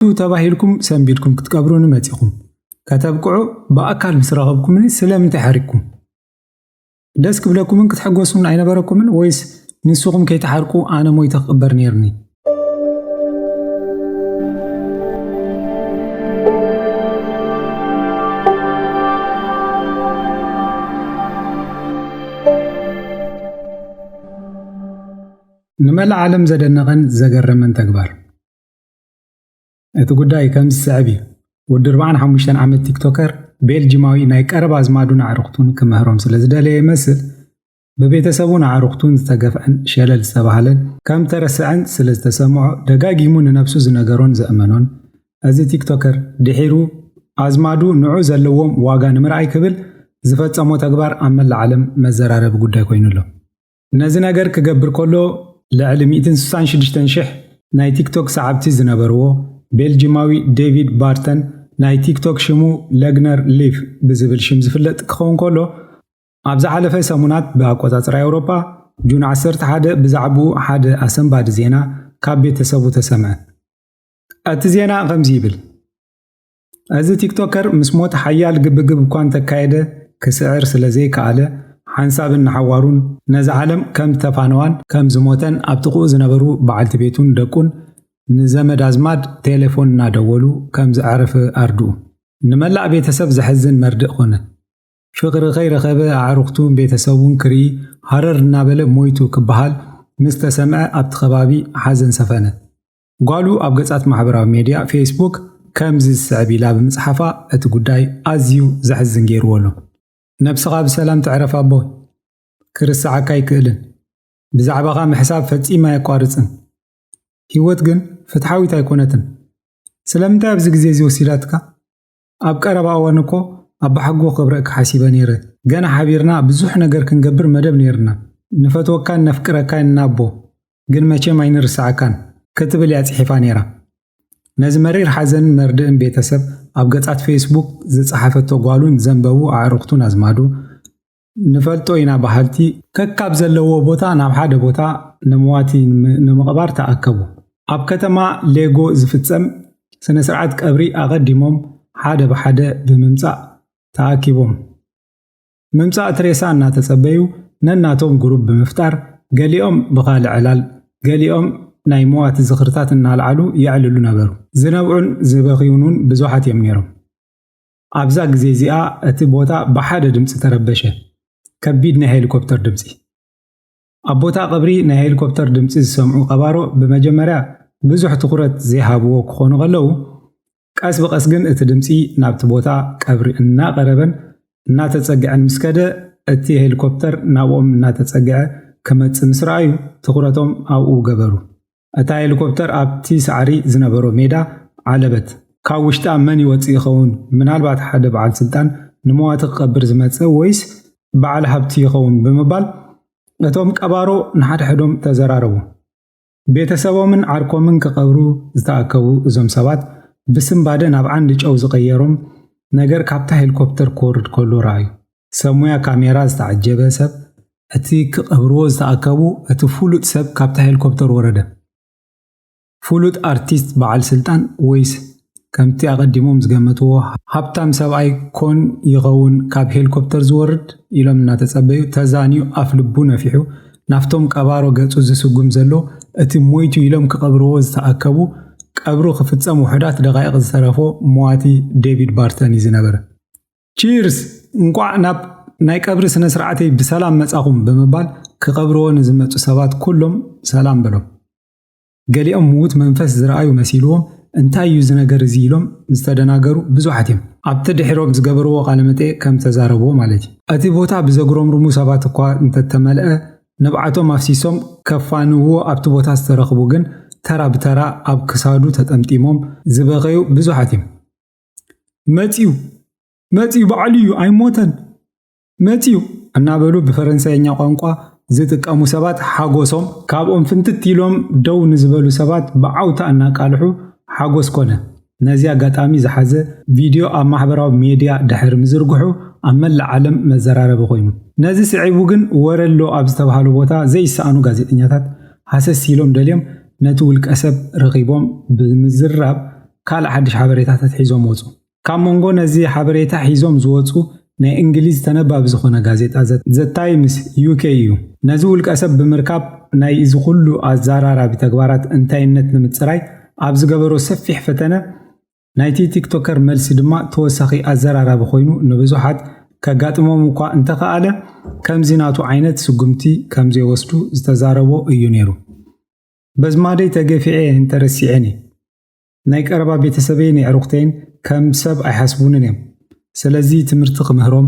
እዩ ተባሂልኩም ሰንቢድኩም ክትቀብሩኒ መጺኹም ከተብቅዑ ብኣካል ምስ ረኸብኩምኒ ስለምንታይ ሓሪቅኩም? ደስ ክብለኩምን ክትሕጎሱን ኣይነበረኩምን ወይስ ንስኹም ከይትሓርቁ ኣነ ሞይተ ክቕበር ነይርኒ? ንመላእ ዓለም ዘደነቐን ዘገረመን ተግባር። እቲ ጉዳይ ከምዚ ዝስዕብ እዩ። ወዲ ኣርብዓን ሓሙሽተን ዓመት ቲክቶከር ቤልጂማዊ ናይ ቀረባ ኣዝማዱን ኣዕርኽቱን ክምህሮም ስለ ዝደለየ ይመስል ብቤተሰቡን ኣዕርኽቱን ዝተገፍዐን ሸለል ዝተባህለን ከም ተረሰዐን ስለ ዝተሰምዖ ደጋጊሙ ንነብሱ ዝነገሮን ዘእመኖን እዚ ቲክቶከር ድሒሩ ኣዝማዱ ንዑ ዘለዎም ዋጋ ንምርኣይ ክብል ዝፈጸሞ ተግባር ኣብ መላእ ዓለም መዘራረቢ ጉዳይ ኮይኑ ኣሎ። ነዚ ነገር ክገብር ከሎ ልዕሊ ሚእትን ስሳን ሽዱሽተን ሽሕ ናይ ቲክቶክ ሰዓብቲ ዝነበርዎ ቤልጂማዊ ዴቪድ ባርተን ናይ ቲክቶክ ሽሙ ለግነር ሊቭ ብዝብል ሽም ዝፍለጥ ክኸውን ከሎ ኣብ ዝሓለፈ ሰሙናት ብኣቆጻጽራ ኤውሮጳ ጁን ዓሰርተ ሓደ ብዛዕባኡ ሓደ ኣሰንባዲ ዜና ካብ ቤተሰቡ ተሰምዐ። እቲ ዜና ከምዚ ይብል። እዚ ቲክቶከር ምስ ሞት ሓያል ግብግብ እኳ እንተካየደ ክስዕር ስለ ዘይከኣለ፣ ሓንሳብን ንሓዋሩን ነዛ ዓለም ከም ዝተፋነዋን ከም ዝሞተን ኣብ ጥቕኡ ዝነበሩ በዓልቲ ቤቱን ደቁን ንዘመድ ኣዝማድ ቴሌፎን እናደወሉ ከም ዘዕረፈ ኣርድኡ። ንመላእ ቤተሰብ ዘሕዝን መርድእ ኮነ። ፍቕሪ ከይረኸበ ኣዕሩኽቱን ቤተሰቡን ክርኢ ሃረር እናበለ ሞይቱ ክበሃል ምስ ተሰምዐ ኣብቲ ከባቢ ሓዘን ሰፈነ። ጓሉ ኣብ ገጻት ማሕበራዊ ሜድያ ፌስቡክ ከምዚ ዝስዕብ ኢላ ብምጽሓፋ እቲ ጉዳይ ኣዝዩ ዘሕዝን ገይርዎ ኣሎ። ነብስኻ ብሰላም ትዕረፍ ኣቦይ። ክርሰዓካ ኣይክእልን። ብዛዕባኻ ምሕሳብ ፈጺመ ኣየቋርጽን። ህይወት ግን ፍትሓዊት ኣይኮነትን። ስለምንታይ ኣብዚ ግዜ'ዚ ወሲዳትካ? ኣብ ቀረባ እዋን እኮ ኣባሓጎ ከብረእኪ ሓሲበ ነይረ ገና ሓቢርና ብዙሕ ነገር ክንገብር መደብ ነይርና ንፈትወካን ነፍቅረካይን ናቦ ግን መቸም ኣይንርሰዐካን ክትብል እያ ጽሒፋ ነይራ ነዚ መሪር ሓዘንን መርድእን ቤተሰብ ኣብ ገጻት ፌስቡክ ዝጸሓፈቶ ጓሉን ዘንበቡ ኣዕርኽቱን ኣዝማዱ ንፈልጦ ኢና በሃልቲ ከካብ ዘለዎ ቦታ ናብ ሓደ ቦታ ንመዋቲ ንምቕባር ተኣከቡ። ኣብ ከተማ ሌጎ ዝፍጸም ስነ ስርዓት ቀብሪ ኣቐዲሞም ሓደ ብሓደ ብምምጻእ ተኣኪቦም። ምምጻእ እቲ ሬሳ እናተጸበዩ ነናቶም ግሩብ ብምፍጣር ገሊኦም ብኻልእ ዕላል ገሊኦም ናይ መዋቲ ዝኽርታት እናልዓሉ የዕልሉ ነበሩ። ዝነብዑን ዝበኽዩኑን ብዙሓት እዮም ነይሮም። ኣብዛ ግዜ እዚኣ እቲ ቦታ ብሓደ ድምጺ ተረበሸ፣ ከቢድ ናይ ሄሊኮፕተር ድምጺ። ኣብ ቦታ ቀብሪ ናይ ሄሊኮፕተር ድምጺ ዝሰምዑ ቀባሮ ብመጀመርያ ብዙሕ ትኹረት ዘይሃብዎ ክኾኑ ከለዉ፣ ቀስ ብቐስ ግን እቲ ድምጺ ናብቲ ቦታ ቀብሪ እናቐረበን እናተጸግዐን ምስ ከደ እቲ ሄሊኮፕተር ናብኦም እናተጸግዐ ክመጽእ ምስ ረኣዩ ትኹረቶም ኣብኡ ገበሩ። እታ ሄሊኮፕተር ኣብቲ ሳዕሪ ዝነበሮ ሜዳ ዓለበት። ካብ ውሽጣ መን ይወጽእ ይኸውን? ምናልባት ሓደ በዓል ስልጣን ንመዋቲ ክቐብር ዝመጸ ወይስ በዓል ሃብቲ ይኸውን? ብምባል እቶም ቀባሮ ንሓድሕዶም ተዘራረቡ። ቤተሰቦምን ዓርኮምን ክቐብሩ ዝተኣከቡ እዞም ሰባት ብስንባደ ናብ ዓንዲ ጨው ዝቐየሮም ነገር ካብታ ሄሊኮፕተር ክወርድ ከሎ ረኣዩ። ሰብ ሙያ ካሜራ ዝተዓጀበ ሰብ እቲ ክቐብርዎ ዝተኣከቡ እቲ ፍሉጥ ሰብ ካብታ ሄሊኮፕተር ወረደ። ፍሉጥ ኣርቲስት በዓል ስልጣን ወይስ ከምቲ ኣቐዲሞም ዝገመትዎ ሃብታም ሰብኣይ ኮን ይኸውን ካብ ሄሊኮፕተር ዝወርድ ኢሎም እናተጸበዩ ተዛንዩ ኣፍ ልቡ ነፊሑ ናብቶም ቀባሮ ገጹ ዝስጉም ዘሎ እቲ ሞይቱ ኢሎም ክቐብርዎ ዝተኣከቡ ቀብሩ ክፍጸም ውሑዳት ደቓይቕ ዝተረፎ መዋቲ ዴቪድ ባርተን እዩ ዝነበረ። ቺርስ እንቋዕ ናብ ናይ ቀብሪ ስነ ስርዓተይ ብሰላም መጻኹም ብምባል ክቐብርዎ ንዝመጹ ሰባት ኩሎም ሰላም በሎም። ገሊኦም ምዉት መንፈስ ዝረኣዩ መሲልዎም እንታይ እዩ እዚ ነገር እዚ ኢሎም ዝተደናገሩ ብዙሓት እዮም። ኣብቲ ድሒሮም ዝገበርዎ ቃለመጠይቕ ከም ተዛረብዎ ማለት እዩ። እቲ ቦታ ብዘጉረምርሙ ሰባት እኳ እንተተመልኣ ንብዓቶም ኣፍሲሶም ከፋንውዎ ኣብቲ ቦታ ዝተረኽቡ ግን ተራ ብተራ ኣብ ክሳዱ ተጠምጢሞም ዝበኸዩ ብዙሓት እዮም። መፂኡ መፂኡ በዓሉ እዩ ኣይሞተን መፂኡ እናበሉ ብፈረንሳይኛ ቋንቋ ዝጥቀሙ ሰባት ሓጎሶም ካብኦም ፍንትት ኢሎም ደው ንዝበሉ ሰባት ብዓውታ እናቃልሑ ሓጎስ ኮነ። ነዚ ኣጋጣሚ ዝሓዘ ቪድዮ ኣብ ማሕበራዊ ሜድያ ድሕሪ ምዝርግሑ ኣብ መላእ ዓለም መዘራረቢ ኮይኑ። ነዚ ስዒቡ ግን ወረሎ ኣብ ዝተብሃሉ ቦታ ዘይሰኣኑ ጋዜጠኛታት ሃሰስ ኢሎም ደልዮም ነቲ ውልቀሰብ ረኺቦም ብምዝራብ ካልእ ሓድሽ ሓበሬታታት ሒዞም ወጹ። ካብ መንጎ ነዚ ሓበሬታ ሒዞም ዝወጹ ናይ እንግሊዝ ተነባቢ ዝኾነ ጋዜጣ ዘ ታይምስ ዩኬ እዩ። ነዚ ውልቀሰብ ብምርካብ ናይ እዚ ኩሉ ኣዛራራቢ ተግባራት እንታይነት ንምጽራይ ኣብ ዝገበሮ ሰፊሕ ፈተነ ናይቲ ቲክቶከር መልሲ ድማ ተወሳኺ ኣዘራራቢ ኮይኑ ንብዙሓት ከጋጥሞም እኳ እንተኸኣለ ከምዚ ናቱ ዓይነት ስጉምቲ ከምዘይወስዱ ዝተዛረቦ እዩ ነይሩ። በዝማደይ ተገፊዐ እንተረሲዐኒ ናይ ቀረባ ቤተሰበይን የዕሩኽተይን ከም ሰብ ኣይሓስቡንን እዮም፣ ስለዚ ትምህርቲ ክምህሮም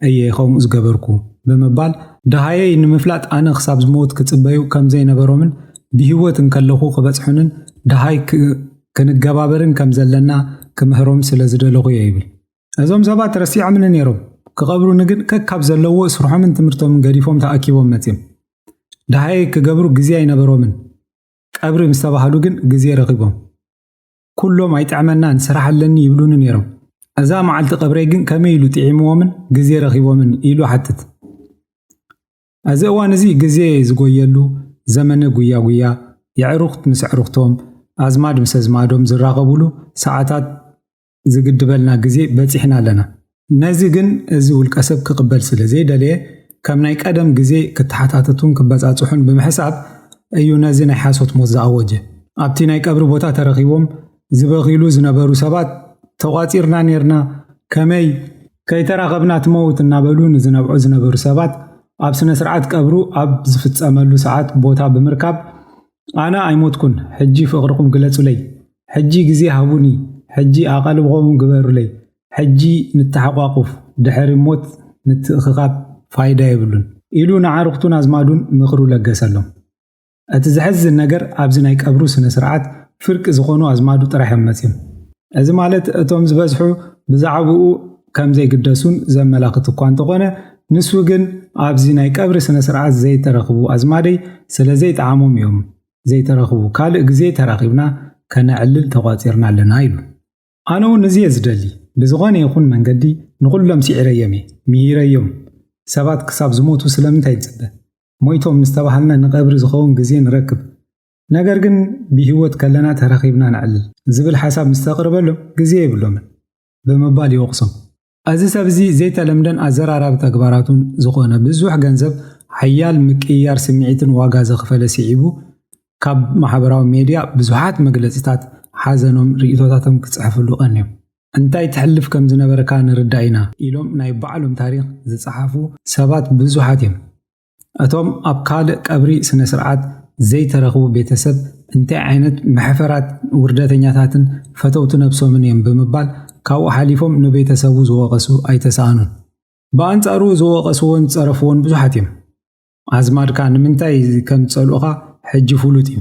እየ ከምኡ ዝገበርኩ ብምባል፣ ደሃየይ ንምፍላጥ ኣነ ክሳብ ዝመውት ክጽበዩ ከም ዘይነበሮምን ብህይወት እንከለኹ ክበጽሑንን ደሃይ ክንገባበርን ከም ዘለና ክምህሮም ስለ ዝደለኹ እየ ይብል። እዞም ሰባት ረሲዖምኒ ነይሮም፣ ክቐብሩኒ ግን ከካብ ዘለዎ ስርሖምን ትምህርቶምን ገዲፎም ተኣኪቦም መጺኦም። ደሃየይ ክገብሩ ግዜ ኣይነበሮምን። ቀብሪ ምስ ተባህሉ ግን ግዜ ረኺቦም። ኩሎም ኣይጥዕመናን ስራሕ ኣለኒ ይብሉኒ ነይሮም። እዛ መዓልቲ ቀብረይ ግን ከመይ ኢሉ ጥዒምዎምን ግዜ ረኺቦምን ኢሉ ሓትት። እዚ እዋን እዚ ግዜ ዝጎየሉ ዘመነ ጉያ ጉያ፣ የዕሩኽት ምስ ኣዕሩኽቶም፣ ኣዝማድ ምስ ኣዝማዶም ዝራኸቡሉ ሰዓታት ዝግድበልና ግዜ በጺሕና ኣለና። ነዚ ግን እዚ ውልቀሰብ ክቕበል ስለ ዘይደለየ ከም ናይ ቀደም ግዜ ክተሓታተቱን ክበጻጽሑን ብምሕሳብ እዩ ነዚ ናይ ሓሶት ሞት ዝኣወጀ። ኣብቲ ናይ ቀብሪ ቦታ ተረኺቦም ዝበኽይሉ ዝነበሩ ሰባት ተቋጺርና ኔርና ከመይ ከይተራኸብና ትመውት እናበሉ ንዝነብዑ ዝነበሩ ሰባት ኣብ ስነ-ስርዓት ቀብሩ ኣብ ዝፍጸመሉ ሰዓት ቦታ ብምርካብ ኣነ ኣይሞትኩን ሕጂ ፍቅርኩም ግለጹለይ ሕጂ ግዜ ሃቡኒ ሕጂ ኣቓልቦኹም ግበሩለይ ሕጂ ንተሓቛቁፍ ድሕሪ ሞት ምትእኽኻብ ፋይዳ የብሉን ኢሉ ንዓርኽቱን ኣዝማዱን ምኽሩ ለገሰሎም። እቲ ዘሕዝን ነገር ኣብዚ ናይ ቀብሩ ስነ ስርዓት ፍርቂ ዝኾኑ ኣዝማዱ ጥራሕ እዮም መጽዮም። እዚ ማለት እቶም ዝበዝሑ ብዛዕብኡ ከምዘይግደሱን ዘመላኽት እኳ እንተኾነ ንሱ ግን ኣብዚ ናይ ቀብሪ ስነ ስርዓት ዘይተረኽቡ ኣዝማደይ ስለዘይጠዓሞም እዮም ዘይተረኽቡ ካልእ ግዜ ተራኺብና ከነዕልል ተቋጺርና ኣለና ኢሉ። ኣነ ውን እዚ እየ ዝደሊ ብዝኾነ ይኹን መንገዲ ንኹሎም ሲዒረዮም እየ ሚሂረዮም ሰባት ክሳብ ዝሞቱ ስለምንታይ ንጽበ ሞይቶም ምስ ተባሃልና ንቀብሪ ዝኸውን ግዜ ንረክብ ነገር ግን ብሂወት ከለና ተራኺብና ነዕልል ዝብል ሓሳብ ምስ ተቅርበሎም ግዜ የብሎምን ብምባል ይወቕሶም። እዚ ሰብ'ዚ ዘይተለምደን ኣዘራራቢ ተግባራቱን ዝኾነ ብዙሕ ገንዘብ፣ ሓያል ምቅይያር ስምዒትን ዋጋ ዘኽፈለ ስዒቡ ካብ ማሕበራዊ ሜድያ ብዙሓት መግለጺታት ሓዘኖም ርእይቶታቶም ክጽሕፍሉ ቀንዮም። እንታይ ተሕልፍ ከም ዝነበርካ ንርዳእ ኢና ኢሎም ናይ ባዕሎም ታሪኽ ዝጸሓፉ ሰባት ብዙሓት እዮም። እቶም ኣብ ካልእ ቀብሪ ስነስርዓት ዘይተረኽቡ ቤተሰብ እንታይ ዓይነት መሕፈራት ውርደተኛታትን ፈተውቲ ነብሶምን እዮም ብምባል ካብኡ ሓሊፎም ንቤተሰቡ ዝወቐሱ ኣይተሳእኑን። ብኣንጻሩ ዝወቐስዎን ዝጸረፍዎን ብዙሓት እዮም። ኣዝማድካ ንምንታይ ከም ዝጸልኡኻ ሕጂ ፍሉጥ እዩ።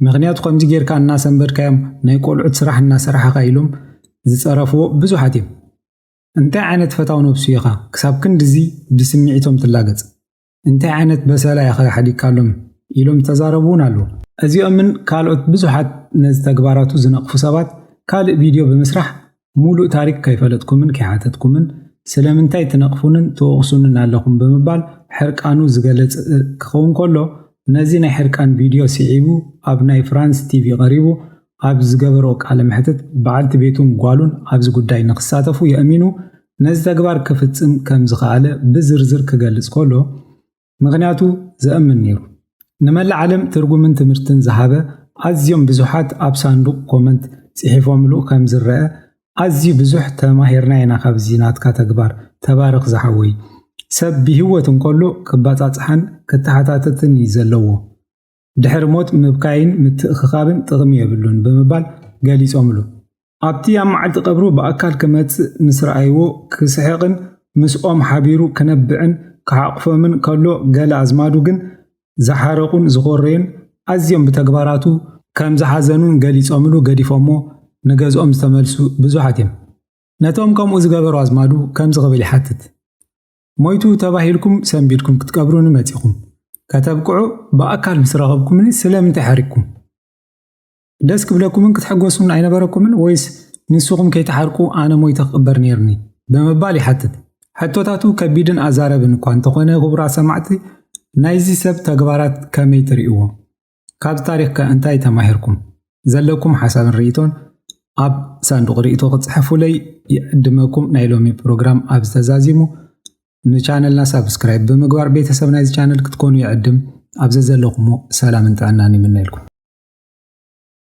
ምኽንያቱ ከምዚ ጌርካ እናሰንበድካዮም ናይ ቆልዑት ስራሕ እናሰራሕኻ ኢሎም ዝጸረፍዎ ብዙሓት እዮም። እንታይ ዓይነት ፈታው ነብሱ ኢኻ ክሳብ ክንድዚ ብስምዒቶም ትላገጽ? እንታይ ዓይነት በሰላ ኢኻ ሓዲግካሎም? ኢሎም ዝተዛረቡ'ውን ኣለዉ። እዚኦምን ካልኦት ብዙሓት ነዚ ተግባራቱ ዝነቕፉ ሰባት ካልእ ቪድዮ ብምስራሕ ሙሉእ ታሪክ ከይፈለጥኩምን ከይሓተትኩምን ስለምንታይ ትነቕፉንን ትወቕሱንን ኣለኹም ብምባል ሕርቃኑ ዝገለጸ ክኸውን ከሎ ነዚ ናይ ሕርቃን ቪድዮ ስዒቡ ኣብ ናይ ፍራንስ ቲቪ ቀሪቡ ኣብ ዝገበሮ ቃለ መሕትት፣ በዓልቲ ቤቱን ጓሉን ኣብዚ ጉዳይ ንክሳተፉ የእሚኑ ነዚ ተግባር ክፍጽም ከም ዝኸኣለ ብዝርዝር ክገልጽ ከሎ፣ ምኽንያቱ ዘእምን ነይሩ። ንመላእ ዓለም ትርጉምን ትምህርትን ዝሃበ ኣዝዮም ብዙሓት ኣብ ሳንዱቕ ኮመንት ጽሒፎምሉ ከም ዝረኣ ኣዝዩ ብዙሕ ተማሂርና ኢና ካብዚ ናትካ ተግባር ተባረኽ ዝሓወይ ሰብ ብሂወት እንከሎ ክባጻጽሓን ክተሓታተትን እዩ ዘለዎ ድሕሪ ሞት ምብካይን ምትእኽኻብን ጥቕሚ የብሉን ብምባል ገሊጾምሉ። ኣብቲ ኣብ መዓልቲ ቀብሩ ብኣካል ክመጽእ ምስ ረኣይዎ ክስሕቕን ምስኦም ሓቢሩ ክነብዕን ክሓቑፎምን ከሎ ገለ ኣዝማዱ ግን ዝሓረቑን ዝኾረዩን ኣዝዮም ብተግባራቱ ከምዝሓዘኑን ገሊጾምሉ ገዲፎሞ ንገዝኦም ዝተመልሱ ብዙሓት እዮም። ነቶም ከምኡ ዝገበሩ ኣዝማዱ ከምዚ ክብል ይሓትት። ሞይቱ ተባሂልኩም ሰንቢድኩም ክትቀብሩኒ መጺኹም ከተብቅዑ ብኣካል ምስ ረኸብኩምኒ ስለምንታይ ሓሪቅኩም? ደስ ክብለኩምን ክትሕጎሱን ኣይነበረኩምን ወይስ ንስኹም ከይተሓርቁ ኣነ ሞይተ ክቕበር ነይርኒ? ብምባል ይሓትት። ሕቶታቱ ከቢድን ኣዛረብን እኳ እንተኾነ ክቡራት ሰማዕቲ ናይዚ ሰብ ተግባራት ከመይ ትርእይዎ? ካብዚ ታሪኽ ከ እንታይ ተማሂርኩም? ዘለኩም ሓሳብን ርኢቶን ኣብ ሳንዱቕ ርኢቶ ክትጽሕፉለይ ይዕድመኩም። ናይ ሎሚ ፕሮግራም ኣብዚ ተዛዚሙ። ንቻነልና ሳብስክራይብ ብምግባር ቤተሰብ ናይዚ ቻነል ክትኮኑ ይዕድም። ኣብ ዘዘለኹሞ ሰላምን ጥዕናን ይምነየልኩም።